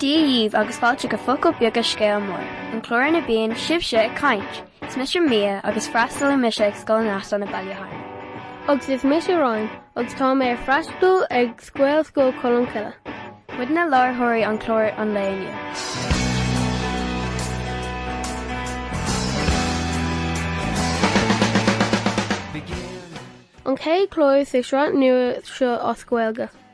Dia dhaoibh agus fáilte go Focail Bheaga Scéal Mór, an clár ina bíonn sibhse ag caint! Is mise Mia agus freastalaím mise ag Scoil an tSeachtar Laoch i mBaile Munna. Agus is mise Ryan agus tá mé ag freastal ag Gaelscoil Cholmcille. Muid na láithreoirí ar chlár an lae inniu. An chéad chlár sa sraith nua seo as Gaeilge.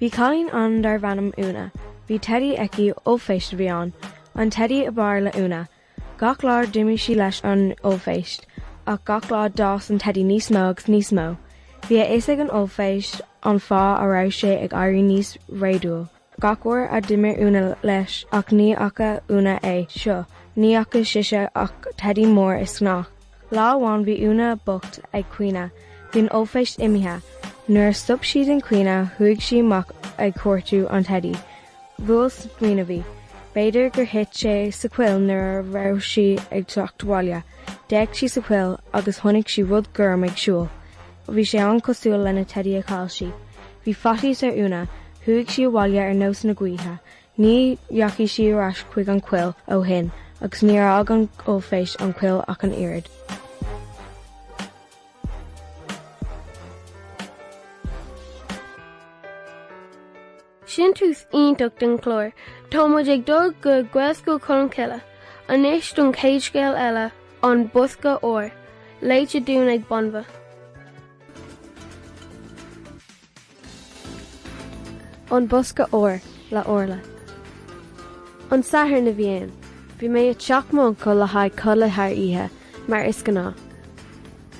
Bhí cailín ann darbh ainm Úna. Bhí teidí aici, ollphéist a bhí ann. An teidí ab fhearr le Úna. Gach lá d'imir sí leis an ollphéist, ach gach lá d'fhás an teidí níos mó agus níos mó. Bhí a fhios ag an ollphéist an fáth a raibh sé ag éirí níos réadúil. Gach uair a d'imir Úna leis, ach ní fhaca Úna é seo, ní fhaca sise ach teidí mór giobach. Lá amháin bhí Úna bocht ag caoineadh, bhí an ollphéist imithe. Nuair a stop sí den chaoineadh chuaigh sí amach ag cuartú an teidí. Bhuail smaoineamh í. B'fhéidir gur thit sé sa choill nuair a raibh sí ag teacht abhaile. D'fhéach sí sa choill agus chonaic sí rud gorm ag siúl. Bhí sé an-cosúil lena teidí a chaill sí. Bhí faitíos ar Úna, chuaigh sí abhaile ar nós na gaoithe, ní dheachaigh sí ar ais chuig an choill ó shin agus níor fhág an ollphéist an choill ach an oiread. Sin tús iontach den chlár. Tá muid ag dul go Gaelscoil Cholmcille anois don chéad scéal eile, An Bosca Óir, léite dúinn ag Banbha. An Bosca Óir le Orla. An Satharn a bhí ann. Bhí mé ag teach m'uncail le haghaidh codladh thar oíche, mar is gnáth.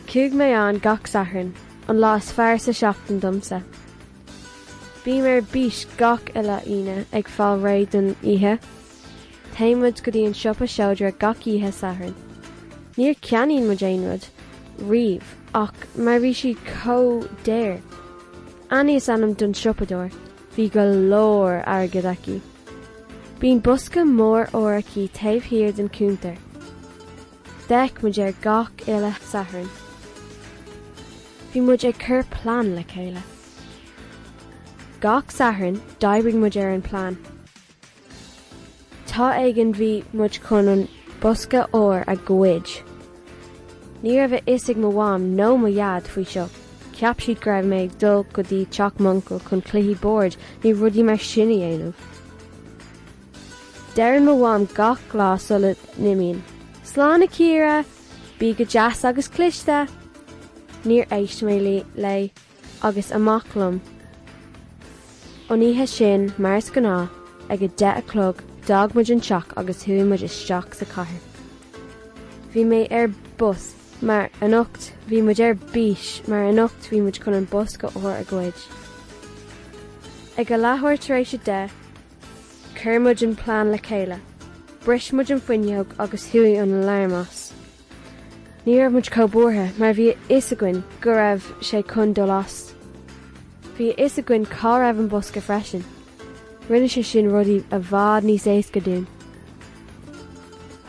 Chuaigh mé ann gach Satharn, an lá is fearr sa seachtain domsa. Bím ar bís gach uile Aoine ag fáil réidh don oíche. Téann muid go dtí an siopa seodra gach oíche Sathairn. Níor ceannaíonn muid aon rud riamh áfach mar bhí sí chomh daor. Annie is ainm don siopadóir, bhí go leor airgid aici. Bíonn bosca mór óir aici taobh thiar den chuntar. D'fhéach muid air gach uile Satharn. Bhí muid ag cur plean le chéile. Gach Satharn d'oibrigh muid ar an bplean. Lá éigin bhí muid chun an bosca óir a ghoid. Ní raibh a fhios ag mo mham nó mo dhaid faoi seo. Cheap siad go raibh mé ag dul go dtí teach m'uncail chun cluichí boird nó rudaí mar sin a dhéanamh. Deireann mo mham gach lá sula n-imím. Slán a Chiara! Bí go deas agus cliste! Níor éist mé léi agus amach liom an oíche sin mar is gnáth, ag a deich a chlog d'fhág muid an teach agus chuaigh muid isteach sa chathair. Bhí mé ar bís mar anocht bhí muid ar bís mar anocht bhí muid chun an bosca óir a ghoid. Ag a leathuair tar éis a deich. Chuir muid an plean le chéile. Bris muid an fuinneog agus chuaigh an alarm as. Ní raibh muid chomh buartha mar bhí a fhios againn go raibh sé chun dul as. Bhí a fhios againn cá raibh an bosca freisin. Rinne sé sin rudaí i bhfad níos éasca dúinn.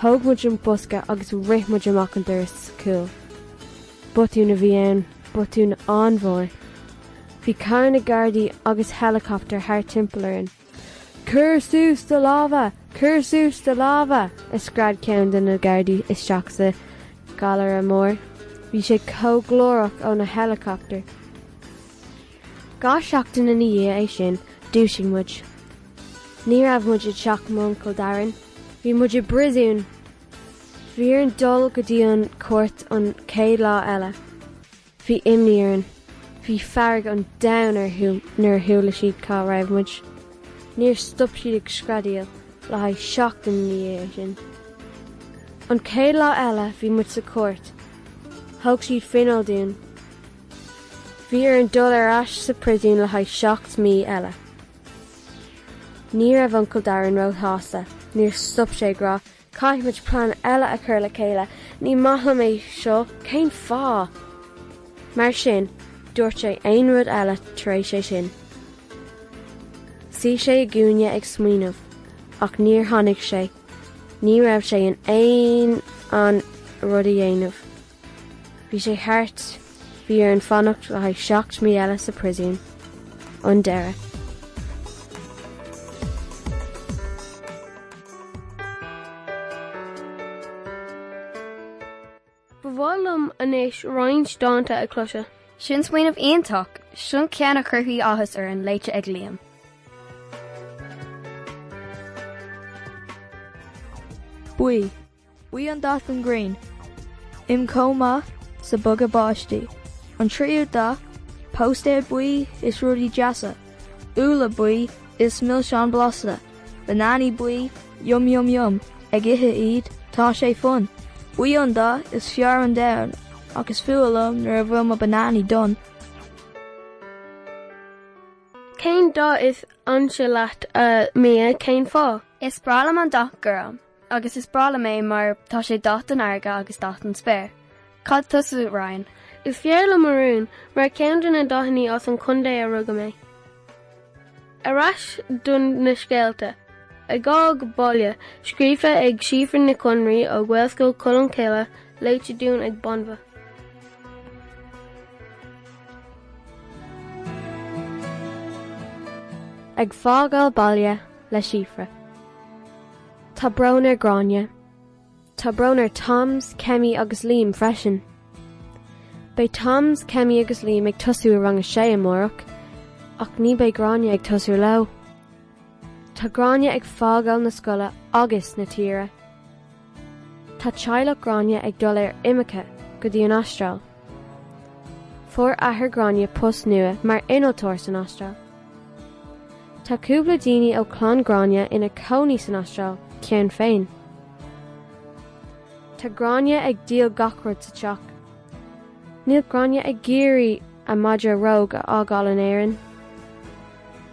Thóg muid an bosca agus rith muid amach an doras cúil. Botún a bhí ann, botún an-mhór. Bhí carranna gardaí agus helicopter thart timpeall orainn. Cur suas do lámha! Cur suas do lámha! a scread ceann de na gardaí isteach sa gcallaire mór. Bhí sé chomh glórach ó na helicopter. Dhá seachtain ina dhiaidh é sin, dúisigh muid. Ní raibh muid i dteach m'uncail Darren. Bhí muid i bpríosún! Bhí orainn dul go dtí an chúirt an chéad lá eile. Bhí imní orainn. Bhí fearg an domhain orthu nuair a chuala siad cá raibh muid. Níor stop siad ag screadaíl le haghaidh seachtain ina dhiaidh sin. An chéad lá eile bhí muid sa chúirt. Thug siad fineáil dúinn. Bhí orainn dul ar ais sa príosún le haghaidh seacht mí eile. Ní raibh Uncail Darren ró-shásta. Níor stop sé ag rá, Caithfidh muid plean eile a chur le chéile, ní maith liom é seo, cén fáth? Mar sin, dúirt sé aon rud eile tar éis é sin. Suí sé i gcúinne ag smaoineamh, ach níor tháinig sé, ní raibh sé in ann aon rud a dhéanamh. Bhí sé thart. Bhí orainn fanacht le haghaidh seacht mí eile sa príosún. An deireadh. Ba mhaith liom anois roinnt dánta a chloiseadh. Sin smaoineamh iontach. Seo ceann a chuirfidh áthas orainn léite ag Liam. Buí. Buí an dath den ghrian im' chomh maith sa bogha báistí. An tríú dath, póstaeir buí is rudaí deasa, úlla buí is milseáin blasta, bananaí buí, yum yum yum, ag ithe iad, tá sé fun. Buí an dath is fearr ar domhan ach is fuath liom nuair a bhfuil mo bananaí donn. Cén dath is ansa leat a Mia? Cén fáth? Is breá liom an dath gorm. Agus is breá liom é mar tá sé dath den fharraige agus dath den spéir. Céard tusa, Ryan? Is fearr liom marún, mar ceann de na dathannaí as an chontae ar rugadh mé. Ar ais do na scéalta. Ag Fágáil Baile, scríofa ag Síofra Nic Con Raoi ó Ghaelscoil Cholmcille, léite dúinn ag Banbha. Ag Fágáil Baile le Síofra. Tá brón ar Gráinne. Tá brón ar Toms, Kemi agus Liam freisin. Beidh Toms, Kemi agus Liam ag tosú i rang a sé amárach ach ní beidh Gráinne ag tosú leo. Tá Gráinne ag fágáil na scoile agus na tíre. Tá teaghlach Gráinne ag dul ar imirce go dtí an Astráil. Fuair athair Gráinne post nua mar innealtóir san Astráil. Tá cúpla daoine ó chlann Gráinne ina cónaí san Astráil, cheana féin. Tá Gráinne ag díol gach rud sa teach. Níl Gráinne ag iarraidh a madra Róg a fhágáil in Éirinn.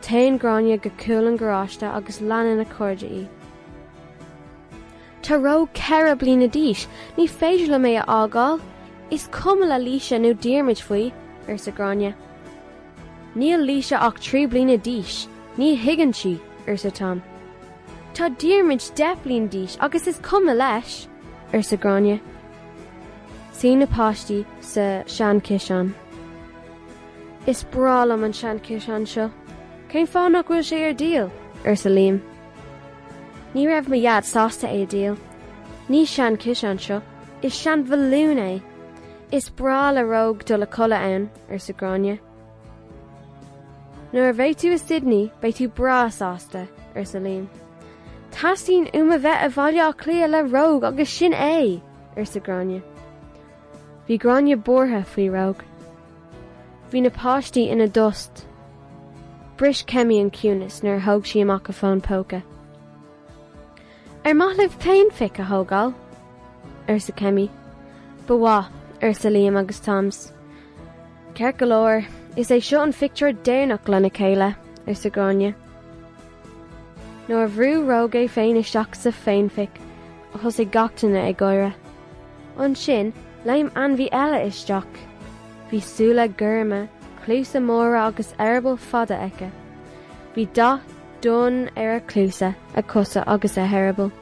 Téann Gráinne go cúl an gharáiste agus leanann a cairde í. Tá Róg ceithre bliana d'aois, ní féidir liom é a fhágáil. Is cuma le Laoise nó Diarmuid faoi, arsa Gráinne. Níl Laoise ach trí bliana d'aois, ní thuigeann sí, arsa Toms. Tá Diarmuid deich bliain d'aois agus is cuma leis, arsa Gráinne. Suíonn na páistí sa seanchiseán. Is breá liom an seanchiseán seo. Cén fáth nach bhfuil sé ar díol? arsa Liam. Ní raibh mo dhaid sásta é a dhíol. Ní seanchiseán é seo, is seanbhalún é. Is breá le Róg dul a codladh ann. arsa Gráinne. Nuair a bheidh tú i Sydney beidh tú breá sásta, arsa Liam. Teastaíonn uaim a bheith i Bhaile Átha Cliath le Róg agus sin é! arsa Gráinne. Bhí Gráinne buartha faoi Róg. Bhí na páistí ina dtost. Bris Kemi an ciúnas nuair a thóg sí amach a fón póca. Ar maith libh féinphic a thógáil? arsa Kemi. Ba mhaith, arsa Liam agus Tom. Ceart go leor, is é seo an phictiúr deireanach lena chéile, arsa Gráinne. Nuair a bhrú Róg é féin isteach sa féinphic, thosaigh gach duine ag gáire. Ansin, léim ainmhí eile isteach. Bhí súile gorma, cluasa móra agus eireaball fada aici. Bhí dath. Donn ar a cluasa, a cosa agus a heireaball.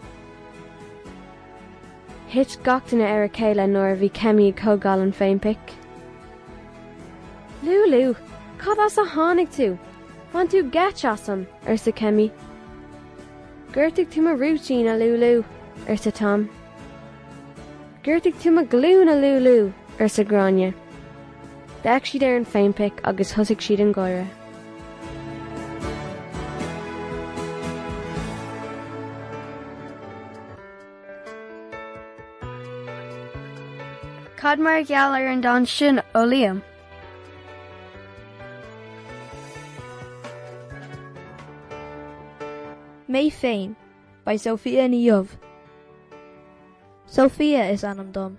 Thit gach duine ar a chéile nuair a bhí Kemi ag tógáil an féinphic. Lúlú! Cad as a tháinig tú? Bhain tú geit asam! arsa Kemi. Ghortaigh tú mo rúitín, a Lúlú! arsa Tom. Ghortaigh tú mo ghlúin, a Lúlú! arsa Gráinne. D'fhéach siad ar an bhféinphic agus thosaigh siad ag gáire. Cad mar gheall ar an dán sin ó Liam? Mé Féin by Sophia Ní Dhubh Sophia is ainm dom.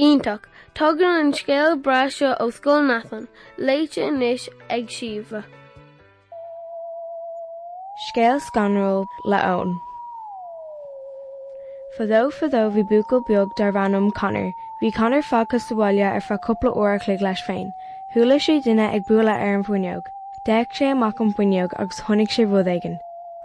Iontach! Tagann an scéal breá seo ó Scoil Neasáin, léite anois ag Síomha. Scéal Scanrúil le Eoin. Fadó fadó bhí buachaill beag darbh ainm Connor. Bhí Connor fágtha sa bhaile ar feadh cúpla uair a chloig leis féin. Chuala sé duine ag bualadh ar an bhfuinneog. D'fhéach sé amach an fuinneog agus chonaic sé rud éigin.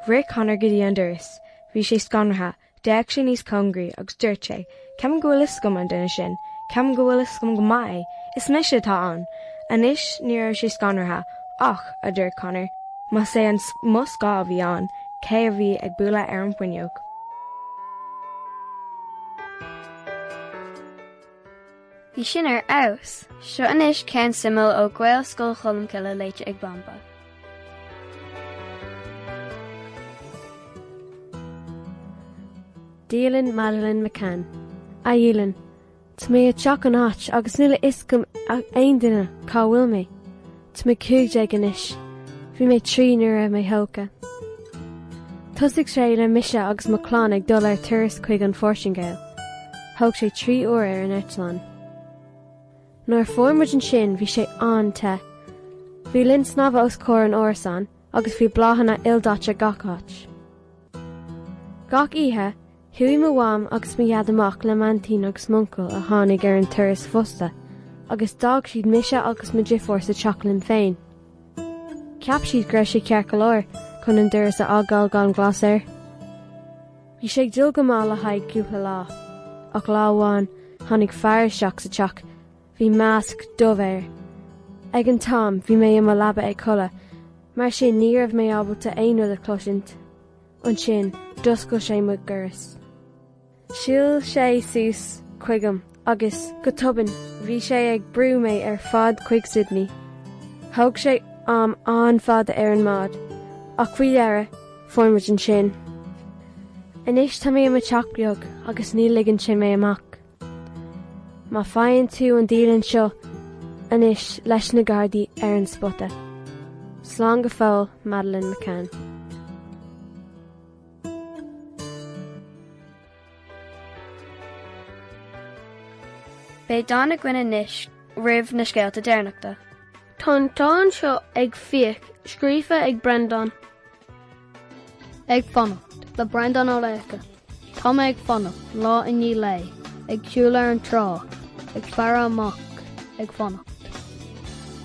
Rith Connor go dtí an doras. Bhí sé scanraithe. D'fhéach sé níos cóngaraí agus dúirt sé, Ceapaim go bhfuil a fhios agam an duine sin, ceapaim go bhfuil a fhios agam go maith é, is mise atá ann! Anois, ní raibh sé scanraithe, ach, a dúirt Connor, más é an mo scáth a bhí ann, cé a bhí ag bualadh ar an bhfuinneog? Bhí sin ar fheabhas! Seo anois ceann suimiúil ó Ghaelscoil Cholmcille léite ag Banba. Dialann Madeleine McCann. A dhialann, tá mé ag teacht an áit agus níl a fhios agam aon duine cá bhfuil mé. Tá mé cúig déag anois. Bhí mé trí nuair a raibh mé tógtha. Thosaigh sé le mise agus mo chlann ag dul ar turas chuig an Phortaingéil. Thóg sé trí uair ar an eitleán. Nuair a fuair muid ansin bhí sé an-te. Bhí linn snámha os comhair an árasáin agus bhí bláthanna ildaite gach áit. Gach oíche Chuaigh mo mham agus mo dhaid amach le m'aintín agus m'uncail a tháinig ar an turas fosta agus d'fhág siad mise agus mo dheirfiúr sa teach linn féin. Cheap siad go raibh sé ceart go leor chun an doras a fhágáil gan glas air. Bhí sé ag dul go maith le haghaidh cúpla lá ach lá amháin tháinig fear isteach sa teach. Bhí masc dubh air. Ag an t-am bhí mé i mo leaba ag codladh mar sin ní raibh mé ábalta aon rud a chloisint. Ansin, d'oscail sé mo dhoras. Shiúil sé suas chuigam agus, go tobann, bhí sé ag brú mé ar fad chuig Sydney. Thóg sé am an-fhada ar an mbád, ach faoi dheireadh, fuair muid ansin. Anois tá mé i mo teach beag agus ní ligeann sé mé amach. Má faigheann tú an dialann seo inis leis na Gardaí ar an spota. Slán go fóill, Madeleine McCann. Beidh dán againn anois roimh na scéalta deireanachta. Tá an dán seo ag Fiach scríofa ag Brendan. Ag fanacht le Brendan Ó Laocha. Tá mé ag fanacht lá i ndiaidh lae, ag siúl ar an trá, ag faire amach, ag fanacht.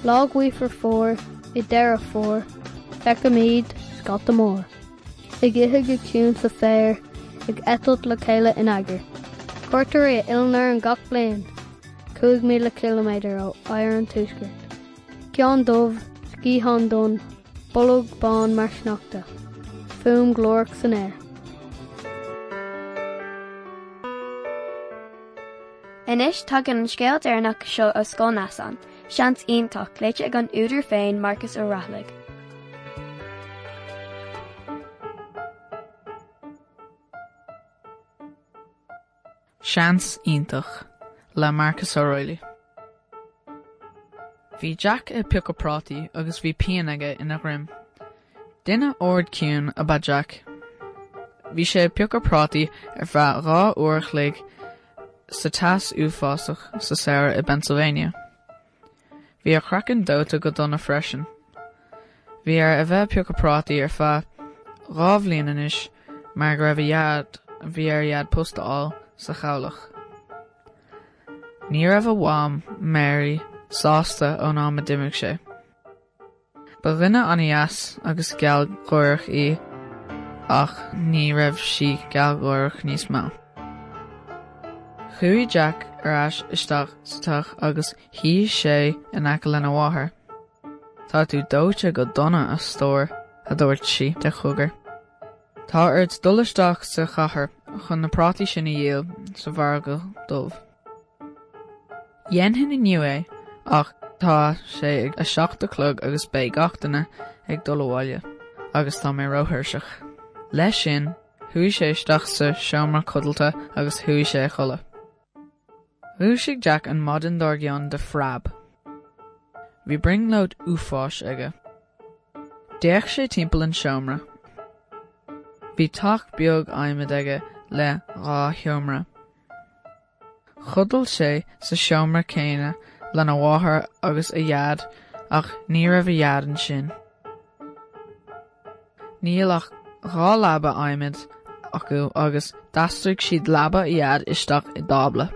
Lá gaofar fómhair, i deireadh Fómhair, feicimid scata mór, ag ithe go ciúin sa féar, ag eitilt le chéile in eagar. Cuairteoirí ar ár n-oileán gach bliain, 5,000 ciliméadar ó oighear an tuaiscirt. Ceann dubh, sciathán donn, bolg bán mar sneachta, fuaim ghlórach san aer. Anois tagann an scéal deireanach seo ó Scoil Neasáin, seans iontach, léite ag an údar féin, Marcus Ó Raghallaigh. Seans iontach le Marcus Ó Raghallaigh. Bhí Jack ag piocadh prátaí agus bhí pian aige ina dhroim. Duine ard ciúin ab ea Jack. Bhí sé ag piocadh prátaí ar feadh dhá uair a chloig sa teas uafásach sa samhradh i bPennsylvania. Bhí a chraiceann dóite go dona freisin. Bhí air a bheith ag piocadh prátaí ar feadh dhá bhliain anois mar go raibh a dhaid, bhí ar a dhaid post a fháil sa chabhlach. Ní raibh a mham, Mary, sásta ón am a d'imigh sé. Ba dhuine an-dheas agus gealgháireach í ach ní raibh sí gealgháireach níos mó. Chuaigh Jack ar ais isteach sa teach agus shuigh sé in aice lena mháthair. Tá tú dóite go dona, a stór, a dúirt sí de chogar. Tá ort dul isteach sa chathair chun na prátaí sin a dhíol sa mhargadh dubh. Dhéanfainn inniu é ach tá sé ag a seacht a chlog agus beidh gach duine ag dul abhaile agus tá mé róthuirseach. Leis sin, chuaigh sé isteach sa seomra codlata agus chuaigh sé a chodladh. Dhúisigh Jack an mhaidin dár gcionn de phreab. Bhí brionglóid uafáis aige. D'fhéach sé timpeall an seomra. Bhí teach beag adhmaid aige le dhá sheomra. Chodail sé sa seomra céanna lena mháthair agus a Dhaid ach ní raibh a Dhaid ansin. Níl ach dhá leaba adhmaid acu agus d'aistrigh siad leaba a Dhaid isteach i dtábla.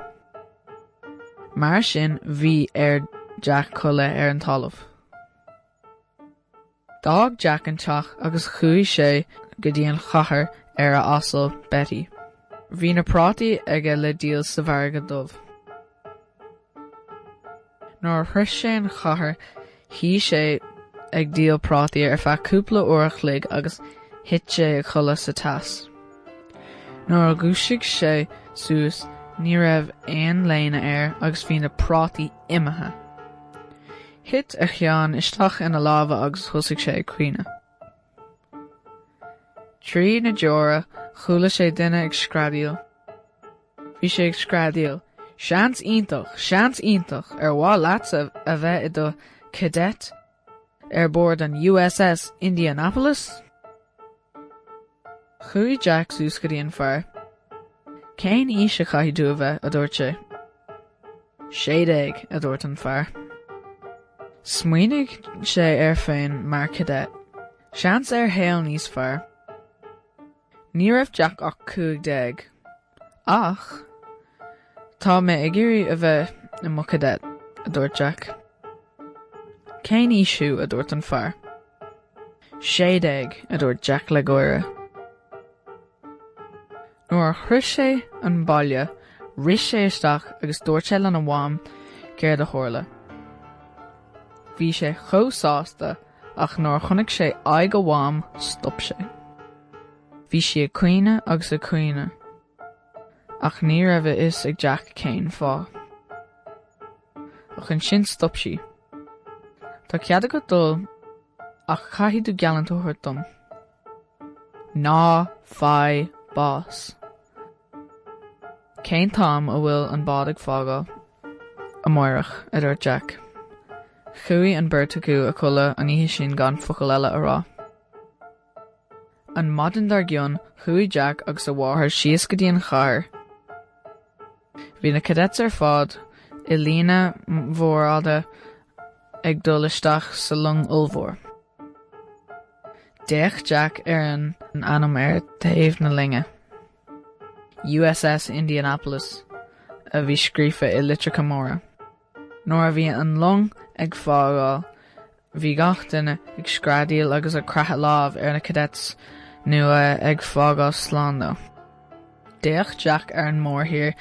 Mar sin bhí ar Jack codladh ar an talamh. D'fhág Jack an teach agus chuaigh sé go dtí an chathair ar a asal Betty. Bhí na prátaí aige le díol sa mhargadh dubh. Nuair a shroich sé an chathair shuigh sé ag díol prátaí ar feadh cúpla uair a chloig agus thit sé a chodladh sa teas. Nuair a dhúisigh sé suas ní raibh aon léine air agus bhí na prátaí imithe. Thit a cheann isteach ina lámha agus thosaigh sé ag caoineadh. Trí na deora chuala sé duine ag screadaíl. Bhí sé ag screadaíl, Seans iontach, seans iontach ar mhaith leatsa a bheith i do cadet ar bord an USS Indianapolis? Chuaigh Jack suas go dtí an fear. Cén aois a chaithfidh tú a bheith, a dúirt sé. Sé déag, a dúirt an fear. Smaoinigh sé air féin mar cadet. Seans ar shaol níos fearr. Ní raibh Jack ach cúig déag. Ach tá mé ag iarraidh a bheith i mo cadet, a dúirt Jack. Cén aois thú? a dúirt an fear. Sé déag, a dúirt Jack le gáire. Nuair a shroich sé an baile rith sé isteach agus dúirt sé lena mham céard a tharla. Bhí sé chomh sásta ach nuair a chonaic sé aghaidh a mham stop sé. Bhí sí ag caoineadh agus ag caoineadh ach ní raibh a fhios ag Jack cén fáth. Ach ansin stop sí. Tá cead agat dul ach caithfidh tú geallúint a thabhairt dom. Ná faigh bás. Cén t-am a bhfuil an bád ag fágáil? Amáireach, a dúirt Jack. Chuaigh an beirt acu a chodladh an oíche sin gan focal eile a rá. An maidin dár gcionn, chuaigh Jack agus a mháthair síos go dtí an chathair. Bhí na cadets ar fad i líne mhór fhada ag dul isteach sa long ollmhór. D'fhéach Jack ar an ainm ar thaobh na loinge, USS Indianapolis a bhí scríofa i litreacha móra. Nuair a bhí an long ag fágáil bhí gach duine ag screadaíl agus ag croitheadh lámh ar na cadets nó ag fágáil slán leo. D'fhéach Jack ar an mórthír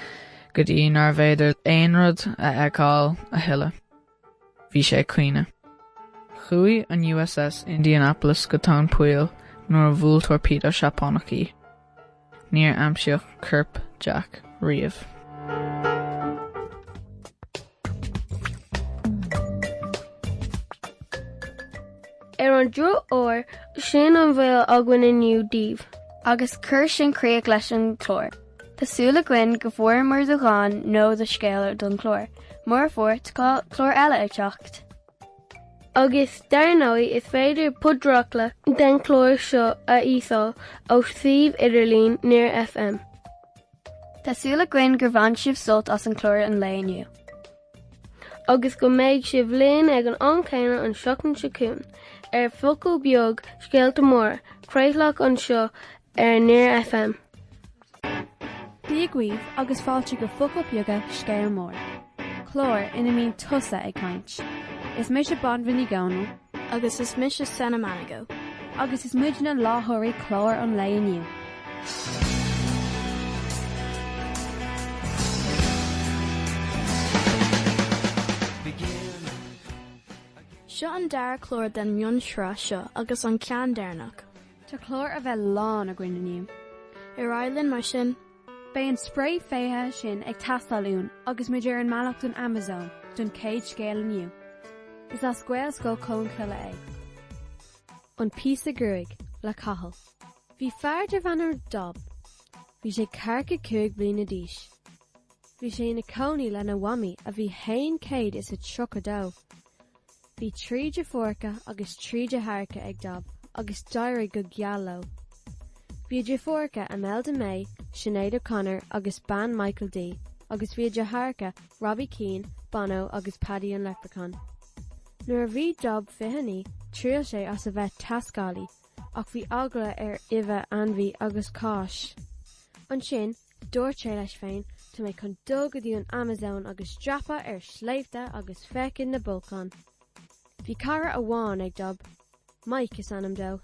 go dtí nárbh fhéidir aon rud a fheiceáil a thuilleadh. Bhí sé ag caoineadh. Chuaigh an USS Indianapolis go tóin poill nuair a bhuail torpedo Seapánach í. Níor aimsíodh corp Jack riamh. Ar an drochuair, sin an bhfuil againn inniu daoibh. Agus cuir sin críoch leis an gclár. Tá súil againn go bhfuaireamar do dhán nó do scéal don chlár. Mura bhfuair, tá clár eile ag teacht. agus dar ndóigh is féidir podchraoladh den chlár seo a íosáil ó suíomh idirlín Near FM. Tá súil againn gur bhain sibh sult as an chlár an lae inniu. agus go mbeidh sibh linn ag an am céanna an seachtain seo chugainn ar Focal Beag, Scéalta Móra, craoladh anseo ar Near FM. Dia dhaoibh agus fáilte go Focail Beaga Scéal Mór, clár ina mbíonn tusa ag caint. Is mise Banbha Ní Dhomhnaill. Agus is mise Senna Manigo. Agus is muid na láithreoirí clár an lae inniu. Seo an dara clár den mhionsraith seo agus an ceann deireanach. Tá clár a bheith lán againn inniu. Ar aghaidh linn mar sin. Beidh an sprae feithide sin ag teastáil uainn agus muid ar an mbealach don Amazon don chéad scéal inniu. Is as Gaelscoil Cholmcille é. An píosa gruaig le Cathal. Bhí fear darbh ainm Dob. Bhí sé ceathracha cúig bliana d'aois. Bhí sé ina cónaí lena mhamaí a bhí haon céad is a tríocha dó. Bhí trí deirfiúracha agus trí deartháireacha ag Dob agus d'éirigh go geal leo. Bhí deirfiúracha Imelda May, Sinéad O'Connor agus bean Michael D agus bhí deartháireacha Robbie Keane, Bono agus Paddy an Leprechaun. Nuair a bhí Dob 29 thriail sé as a bheith taiscéalaí ach bhí eagla air roimh, ainmhí agus cáis. Ansin Dúirt sé leis féin, Tá mé chun dul go dtí an Amazon agus dreapadh ar sléibhte agus féachaint na bolcáin. Bhí cara amháin ag Dob, Mike is ainm dó.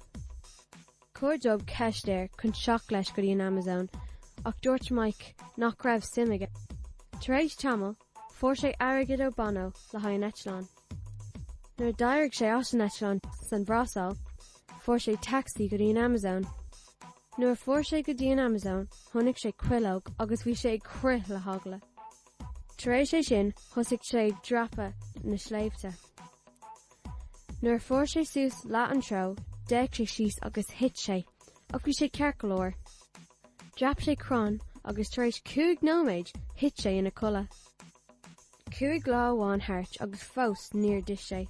Chuir Dob ceist air chun teacht leis go dtí an Amazon ach dúirt Mike nach raibh suim aige. Tar éis tamall, fuair sé airgead ó Bono le haghaidh an eitleán. Nuair a d'éirigh sé as an eitleán san Bhrasáil, fuair sé taxi go dtí an Amazon. Nuair a fuair sé go dtí an Amazon, chonaic sé cuileog agus bhí sé ag crith le heagla. Tar éis é sin, thosaigh sé ag dreapadh na sléibhte. Nuair a fuair sé suas leath an treo, d'fhéach sé síos agus thit sé, ach bhí sé ceart go leor. Dreap sé crann agus tar éis cúig nóiméid, thit sé ina codladh. Cúig lá amháin thart agus fós níor d'ith sé.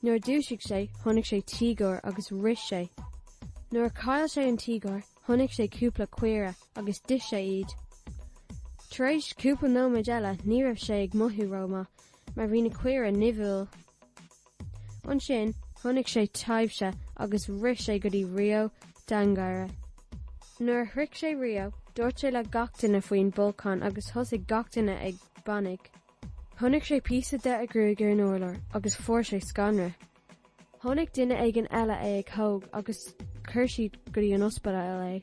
Nuair a dúisigh sé, chonaic sé tíogar agus rith sé. Nuair a chaill sé an tíogar, chonaic sé cúpla caora agus d'ith sé iad. Tar éis cúpla nóiméid eile ní raibh sé ag mothú rómhaith mar bhí na caora nimhiúil. Ansin chonaic sé taibhse agus rith sé go dtí Rio de Janeiro. Nuair a shroich sé Rio, dúirt sé le gach duine faoin bolcán agus thosaigh gach duine ag panic. Chonaic sé píosa de a gruaig ar an urlár agus fuair sé scanradh. Chonaic duine éigin eile é agus thóg agus chuir siad go dtí an ospidéal é.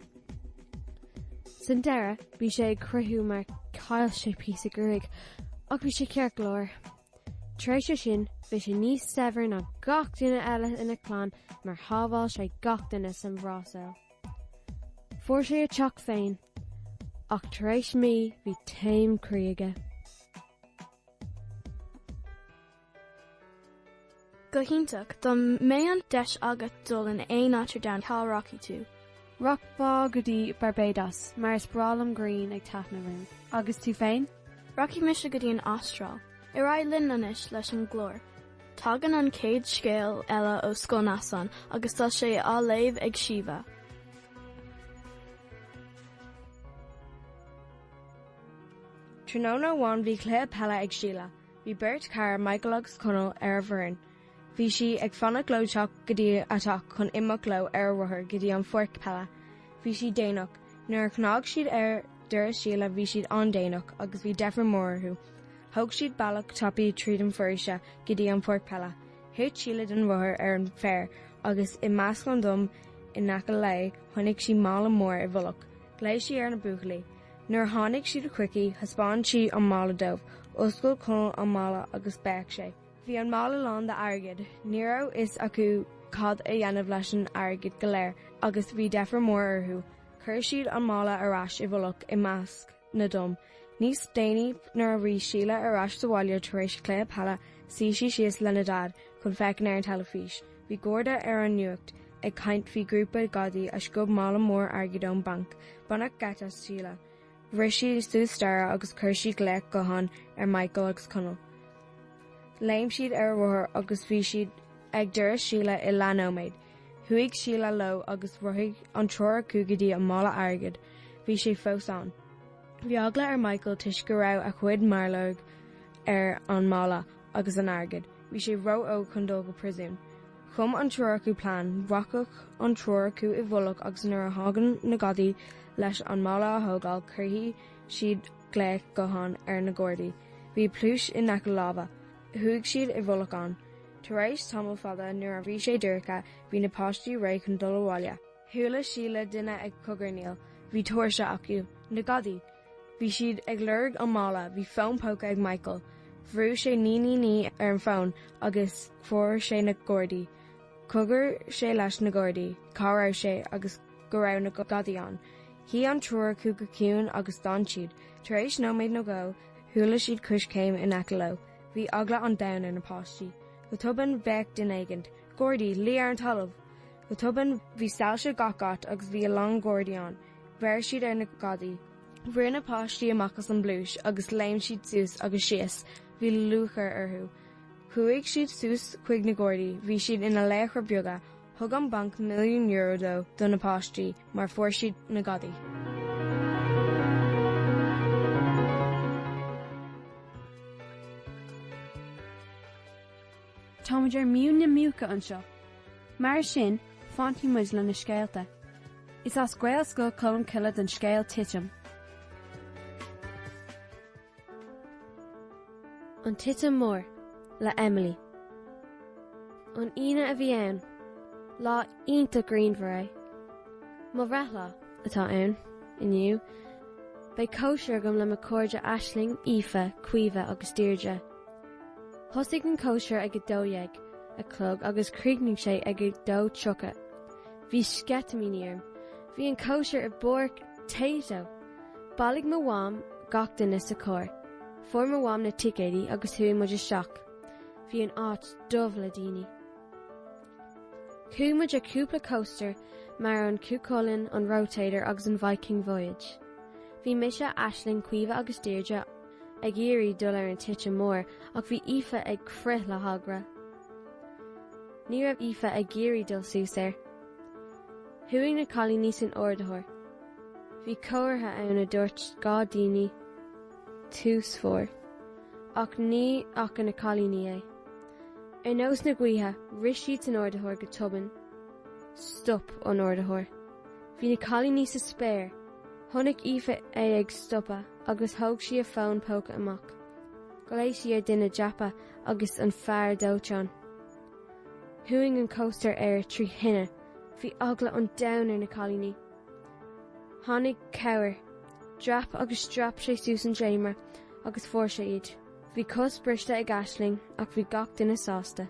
San deireadh, bhí sé ag croitheadh mar chaill sé píosa gruaig ach bhí sé ceart go leor. Tar éis é sin, bhí sé níos saibhir ná gach duine eile ina clann mar shábháil sé gach duine san Bhrasaíl. Fuair sé a teach féin, ach tar éis mí bhí taom croí aige. Go hiontach, dá mbeidh an deis agat dul in aon áit ar domhan, cá rachaidh tú? Rachaidh mé go dtí Barbados, mar is breá liom grian ag taitneamh orm. Agus tú féin? Rachaidh mise go dtí an Astráil. Ar aghaidh linn anois leis an gclár. Tagann an chéad scéal eile ó Scoil Neasáin agus tá sé á léamh ag Síomha. Tráthnóna amháin bhí cluiche peile ag Síle. Bhí beirt chara, Michael agus Conall, ar a bhfoireann. Bhí sí ag fanacht leo teacht go dtí a teach chun imeacht leo ar a rothar go dtí an pháirc peile. Bhí siad déanach. Nuair a chnag siad ar doras Shíle bhí siad an-déanach agus bhí deifir mór orthu. Thóg siad bealach tapaidh tríd an foraoise go dtí an pháirc peile. Thit Síle den rothar ar an bhféar agus i measc na dtom in aice léi chonaic sí mála mór i bhfolach. Ghlaoigh sí ar na buachaillí. Nuair a tháinig siad chuici thaispeáin sí an mála dóibh. D'oscail Conall an mála agus bhéic sé. Bhí an mála lán d'airgead. Ní raibh fhios acu cad a dhéanamh leis an airgead go léir agus bhí deifir mór orthu. Chuir siad an mála ar ais i bhfolach i measc na dtom. Níos déanaí nuair a bhí Síle ar ais sa bhaile tar éis an cluiche peile suigh sí síos lena Daid chun féachaint ar an teilifís. Bhí garda ar an nuacht ag caint faoi grúpa gadaí a sciob mála mór airgid ón banc. Baineadh geit as Síle. Rith sí suas staighre agus chuir sí glaoch gutháin ar Michael agus Conall. Léim siad ar a rothar agus bhí siad ag doras Síle i leath-nóiméad. Chuaigh Síle leo agus rothaigh an triúr acu go dtí an mála airgid. Bhí sé fós ann. Bhí eagla ar Michael toisc go raibh a chuid méarlorg ar an mála agus an airgid, bhí sé ró-óg chun dul go priosún. Chum an triúr acu plean, rachadh an triúr acu i bhfolach agus nuair a thagann na gadaí leis an mála a thógáil cuirfidh siad glaoch gutháin ar na gardaí. Bhí pluais in aice lámha. Chuaigh siad i bhfolach ann. Tar éis tamall fada nuair a bhí sé dorcha bhí na páistí réidh chun dul abhaile. Chuala Síle duine ag cogarnaíl. Bhí tóirse acu. Na gadaí! Bhí siad ag lorg an mála. Bhí fón póca ag Michael. Bhrú sé naoi naoi naoi ar an fón agus fuair sé na gardaí. Chogair sé leis na gardaí cá raibh sé agus go raibh na gadaí ann. Shuigh an triúr acu go ciúin agus d'fhan siad. Tar éis nóiméad nó dhó, chuala siad coiscéim in aice leo. Bhí eagla an domhain ar na páistí. Go tobann bhéic duine éigint, gardaí, luigh ar an talamh! Go tobann, bhí soilse gach áit agus bhí a lán Gardaí ann. Bheir siad ar na gadaí. Rith na páistí amach as an bpluais agus léim siad suas agus síos. Bhí lúcháir orthu. Chuaigh siad suas chuig na Gardaí, bhí siad ina laochra beaga. Thug an banc milliún euro dó do na páistí mar fuair siad na gadaí. Táimid ar mhuin na muice anseo. Mar sin, fanfaidh muid le na scéalta. Is as Gaelscoil Cholmcille don scéal Titim. An Titim Mór, le Emily. An Aoine a bhí ann. Lá iontach grianmhar é. Mo bhreithlá atá ann inniu. Beidh cóisir agam le mo chairde Aisling, Aoife, Caoimhe agus Deirdre. Thosaigh an cóisir ag a dó dhéag a chlog agus chríochnaigh sé ag a dó tríocha. Bhí sceitimíní orm. Bhí an cóisir i bpáirc Tayto. Bailigh mo mham gach duine sa charr. Fuair mo mham na ticéidí agus chuaigh muid isteach. Bhí an áit dubh le daoine. Chuaigh muid ar cúpla coaster mar an Cuchulainn, an Rotator agus an Viking Voyage. Bhí mise, Aisling, Caoimhe agus Deirdre ag iarraidh dul ar an titim mór ach bhí Aoife ag crith le heagla. Ní raibh Aoife ag iarraidh dul suas air. Chuaigh na cailíní san ardaitheoir. Bhí comhartha ann a dúirt dhá daoine tús fóir ach ní fhaca na cailíní é. Ar nós na gaoithe rith siad san ardaitheoir go tobann. Stop an ardaitheoir. Bhí na cailíní sa spéir. Chonaic Aoife é ag stopadh agus thóg sí a fón póca amach. Ghlaoigh sí ar duine dreapa agus an fear dóiteáin. Chuaigh an coaster ar trí thine. Bhí eagla an domhain ar na cailíní. Tháinig cabhair. Dreap agus dreap sé suas an dréimire agus fuair sé iad. Bhí cos briste ag Aisling ach bhí gach duine sásta.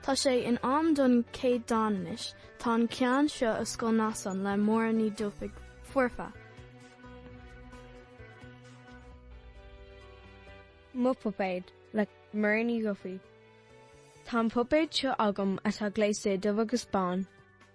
Tá sé in am don chéad dán anois, tá an ceann seo as Scoil Neasáin le Máire Ní Dhufaigh Fuartha. Mo Puipéad le Máire Ní Dhufaigh Tá an puipéad seo agam atá gléasta i dubh agus bán.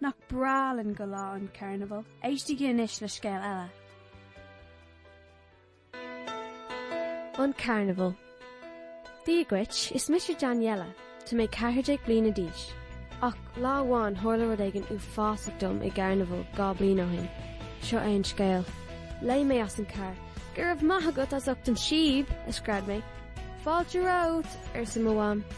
Nach breá linn go lá an carnabhail? Éistigí anois le scéal eile. An Carnabhal. Dia dhuit, is mise Daniela. Tá mé 14 bliana d'aois. Ach lá amháin tharla rud éigin uafásach dom i gcarnabhal dhá bliain ó shin. Seo é an scéal. Léim mé as an carr. Go raibh maith agat as ucht an síob! a scread mé. Fáilte romhat! arsa mo mham.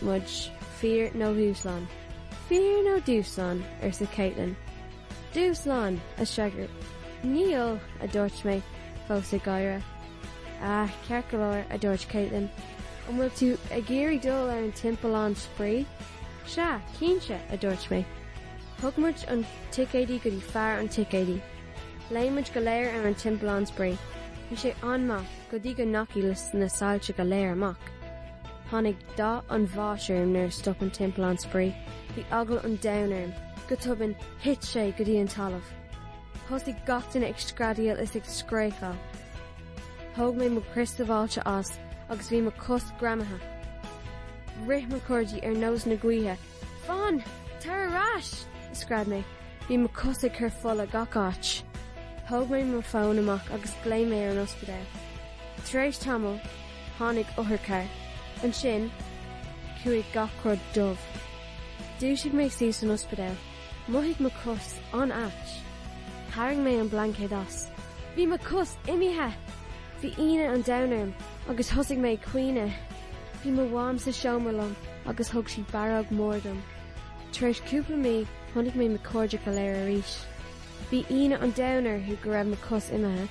muid fíor nó dhúshlán? Fíor nó dúshlán? arsa Caitlin. Dúshlán, a shagart. Níl, a dúirt mé, fós ag gáire. Ah, ceart go leor, a dúirt Caitlin. An bhfuil tú ag iarraidh dul ar an timpeallán spraoi? Sea, cinnte, a dúirt mé. Thug muid an ticéidí go dtí fear an ticéidí. Léim muid go léir ar an timpeallán spraoi. Bhí sé an-mhaith, go dtí go ndeachaigh na soilse go léir amach. Tháinig dath an bháis orm nuair a stop an timpeallán spraoi. Bhí eagla an domhain orm. Go tobann, thit sé go dtí an talamh. Thosaigh gach duine ag screadaíl is ag scréachaíl. Thóg mé mo chrios sabháilte as agus bhí mo chos greamaithe. Rith mo chairde ar nós na gaoithe. Fan! Tar ar ais! a scread mé. Bhí mo chos ag cur fola gach áit. Thóg mé mo fón amach agus glaoigh mé ar an ospidéal. Tar éis tamall, tháinig otharcharr. Ansin, chuaigh gach rud dubh. Dhúisigh mé suas san ospidéal. Mhothaigh mo cos an-ait. Tharraing mé an blaincéad as. Bhí mo cos imithe! Bhí ionadh an domhain orm agus thosaigh mé ag caoineadh. Bhí mo mham sa seomra liom agus thug sí barróg mór dom. Tar éis cúpla mí chonaic mé mo cairde go léir arís. Bhí ionadh an domhain orthu go raibh mo cos imithe.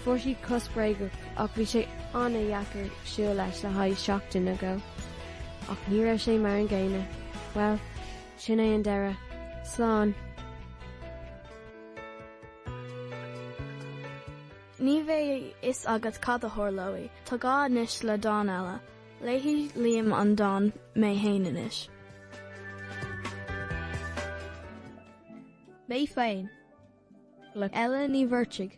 Fuair siad cos bréagach ach bhí sé an-dheacair siúl leis le haghaidh seachtain nó dhó. Ach ní raibh sé mar an gcéanna. Bhuel. Sin é an deireadh. Slán. Ní bheidh a fhios agat cad a tharlóidh. Tá gá anois le dán eile. Léifidh Liam an dán Mé Féin anois. Mé féin. Le Ella Ní Mhuircheartaigh.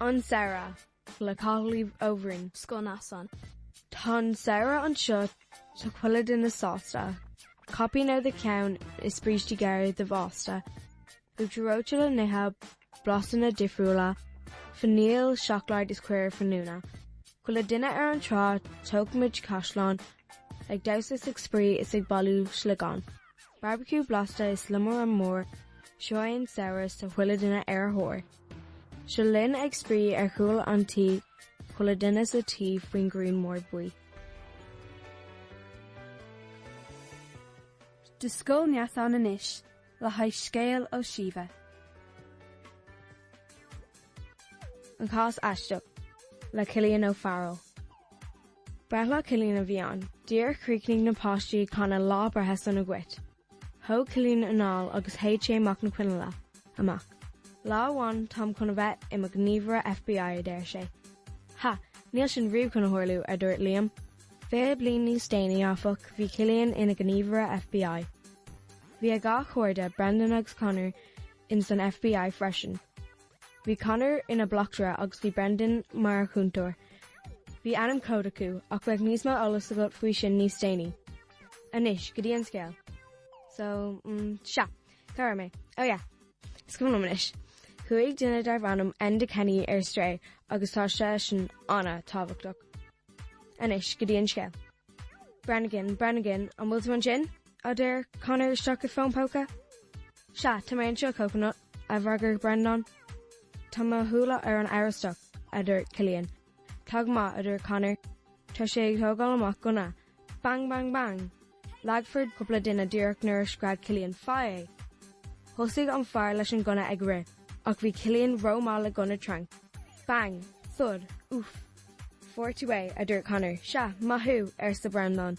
An Samhradh, le Cathal Ó Broin. Scoil Neasáin. Tá an samhradh anseo is tá chuile duine sásta. Caipín ar do cheann is brístí gearra ar do bhásta. Uachtar reoite le n-ithe blasanna difriúla, fainíl, seacláid is caor fíniúna. Chuile duine ar an trá tógfaimid caisleán, ag damhsa is ag spraoi is ag bailiú sliogán. Barbecue blasta is liomanáid mhór seo an samhradh is chuile dhuine ar thóir. Seo linn ag spraoi ar chúl an tí chuile duine sa tuí faoin ngrian mór buí. Do Scoil Neasáin anois le haghaidh scéal ó Síomha. An cás aisteach le Cillian Ó Fearghail. Breithlá Cillian a bhí ann. Nuair a chríochnaigh na páistí ag canadh Lá Breithe Sona Dhuit. Thóg Cillian anáil agus shéid sé amach na coinnle amach. Lá amháin táim chun a bheith i mo ghníomhaire FBI a deir sé. Ha! Níl sin riamh chun a tharlú, a dúirt Liam. Fiche bliain níos déanaí, áfach, bhí Cillian ina ghníomhaire FBI. Bhí a dhá chairde, Brendan agus Conor, ins an FBI freisin. Bhí Conor ina bleachtaire agus bhí Brendan mar chúntóir. Bhí ainm cód acu ach beidh níos mó eolas agat faoi sin níos déanaí. Anois, go dtí an scéal. So, mm, sea, cá raibh mé? Oh yeah, is cuma liom anois. Chuaigh duine darb ainm Enda Kenny ar strae agus tá seisean an-tábhachtach. Anois, go dtí an scéal. Brannigan, Brannigan, an bhfuil tú ansin? a deir Conor isteach i bhfón póca. Sea, tá mé anseo, Coconut, a d'fhreagair Breandán. Tá mo shúile ar an amhrastach, a dúirt Cillian. Tá go maith, a dúirt Conor. Tá sé ag tógáil amach gunna. Bang, bang, bang! Leagadh cúpla duine díreach nuair a scread Cillian faigh é. Thosaigh an fear leis an gunna ag rith ach bhí Cillian ró-mhaith le gunna tranc. Bang! Thud! Úff! Fuair tú é, a dúirt Conor. Sea, maith thú, arsa Breandán.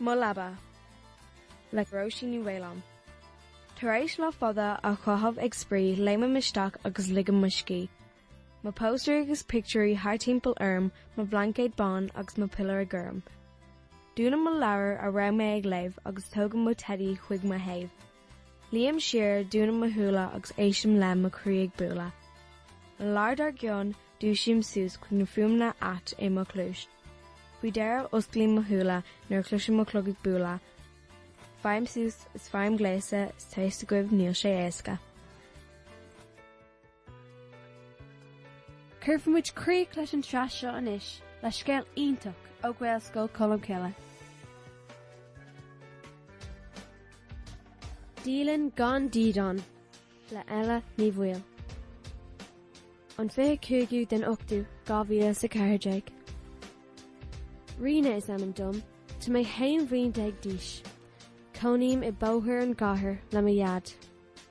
Mo Leaba, le Róisín Ní Mhaoláin. Tar éis lá fada a chaitheamh ag spraoi léimim isteach agus ligim mo scíth, mo póstaeirí agus pictiúirí thart timpeall orm, mo bhlaincéad bán agus mo piliúr gorm. Dúnaim mo leabhar a raibh mé ag léamh agus tógaim mo teidí chuig mo thaobh. Luím siar dúnaim mo shúile agus éistim le mo chroí ag bualadh. An lá dár gcionn, dúisím suas chuig na fuaimeanna atá i mo chluais. Faoi dheireadh osclaím mo shúile nuair a chloisim mo chlog ag bualadh. Faighim suas is faighim gléasta is tá a fhios agaibh níl sé éasca. Cuirfimid críoch leis an tsraith seo anois le scéal iontach ó Ghaelscoil Cholmcille. Dialann Gan Dídean le Ella Ní Bhaoill. An 25ú den ochtú 2014. Ríona is ainm dom, tá mé haon bhliain déag d'aois. Cónaím i bóthar i gcathair le mo dhaid.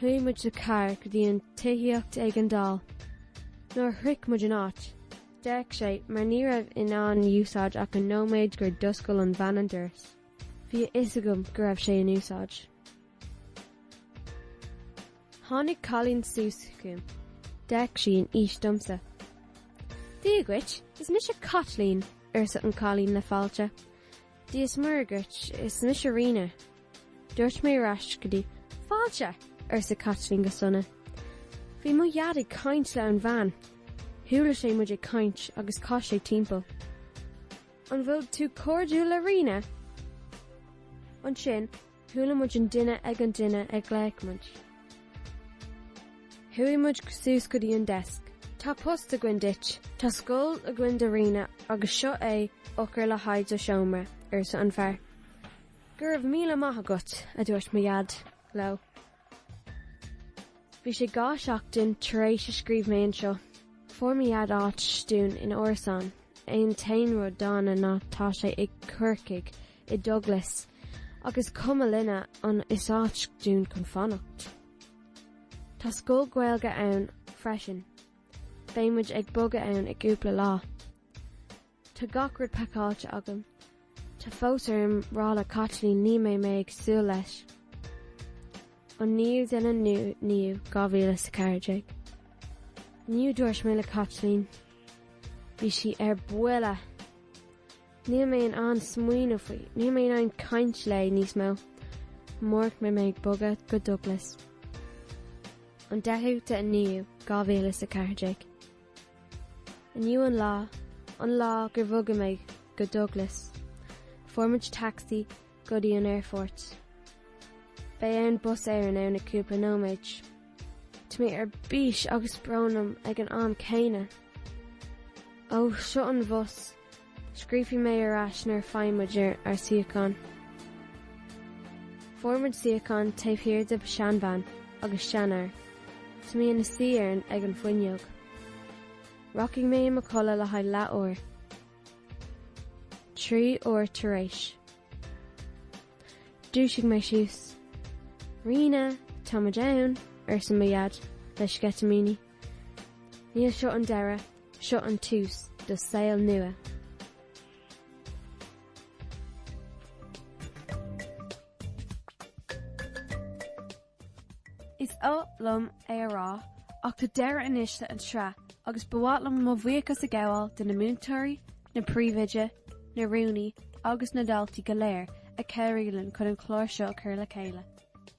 Chuaigh muid sa charr go dtí an tithíocht éigeandála. Nuair a shroich muid an áit, d'fhéach sé mar ní raibh sé in úsáid ach an nóiméad gur d'oscail an bhean an doras. Bhí a fhios agam go raibh sé in úsáid. Tháinig cailín suas chugam. D'fhéach sí an aois domsa. Dia duit, is mise Caitlín, arsa an cailín le fáilte. Dia is Muire dhuit, is mise Ríona. Dúirt mé ar ais go dtí. Fáilte! arsa Caitlín go sona. Bhí mo dhaid ag caint le an bhean. Chuala sé muid ag caint agus chas sé timpeall. An bhfuil tú cairdiúil le Ríona? Ansin. Chuala muid an duine ag an duine ag glaoch muid. Chuaigh muid suas go dtí an deisc. Tá post againn duit. Tá scoil againn do Ríona agus seo í eochair le haghaidh do sheomra, arsa an fear. Go raibh míle maith agat, a dúirt mo Dhaid leo. Bhí sé dhá sheachtain tar éis a scríobh mé anseo. Fuair mo dhaid áit dúinn in árasán, an t-aon rud dona ná tá sé i gCorcaigh, i Douglas, ach is cuma linne ann is áit dúinn chun fanacht. Tá scoil Ghaeilge ann freisin. Beidh muid ag bogadh ann i gcúpla lá. Tá gach rud pacáilte agam. Tá fós orm rá le Caitlín ní mbeidh mé ag súil leis. An 9ú den 9ú 2014. Inniu dúirt mé le Caitlín. Bhí sí ar buile. Níl mé in ann smaoineamh faoi, níl mé in ann caint léi níos mó. Amárach beidh mé ag bogadh go Douglas. An 10ú den 9ú 2014. Inniu an lá, an lá gur bhogaigh mé go Douglas, fuair muid tacsaí go dtí an aerfort. Beidh an bus Éireann ann i cúpla nóiméid. Tá mé ar bís agus brón orm ag an am céanna. Ó, seo an bhus, Scríobhfaidh mé ar ais nuair a faighidh muid ár suíochán. Fuair muid suíochán taobh thiar de sheanbhean agus seanfhear. Tá mé i mo shuí ag an fuinneog. Rachaidh mé i mo chodladh le haghaidh leath-uair. Trí uair tar éis. Dhúisigh mé suas. Ríona, táimid ann, arsa mo Dhaid le sceitimíní. Níl seo an deireadh. Seo an tús do saol nua. Is oth liom é a rá ach tá deireadh anois leis an tsraith agus ba mhaith liom mo bhuíochas a ghabháil do na múinteoirí, na príomhoide, na rúnaí agus na daltaí go léir a chabhraigh linn chun an clár seo a chur le chéile.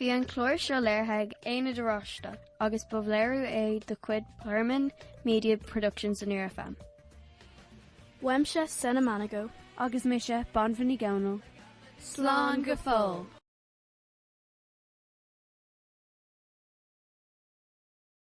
Bhí an clár seo léirithe ag Aonad Oráiste agus ba léiriú é de chuid Pearlman Media Productions ar Near FM. Uaimse Senna Manigo. Agus mise Banbha Ní Dhomhnaill. Slán go fóill!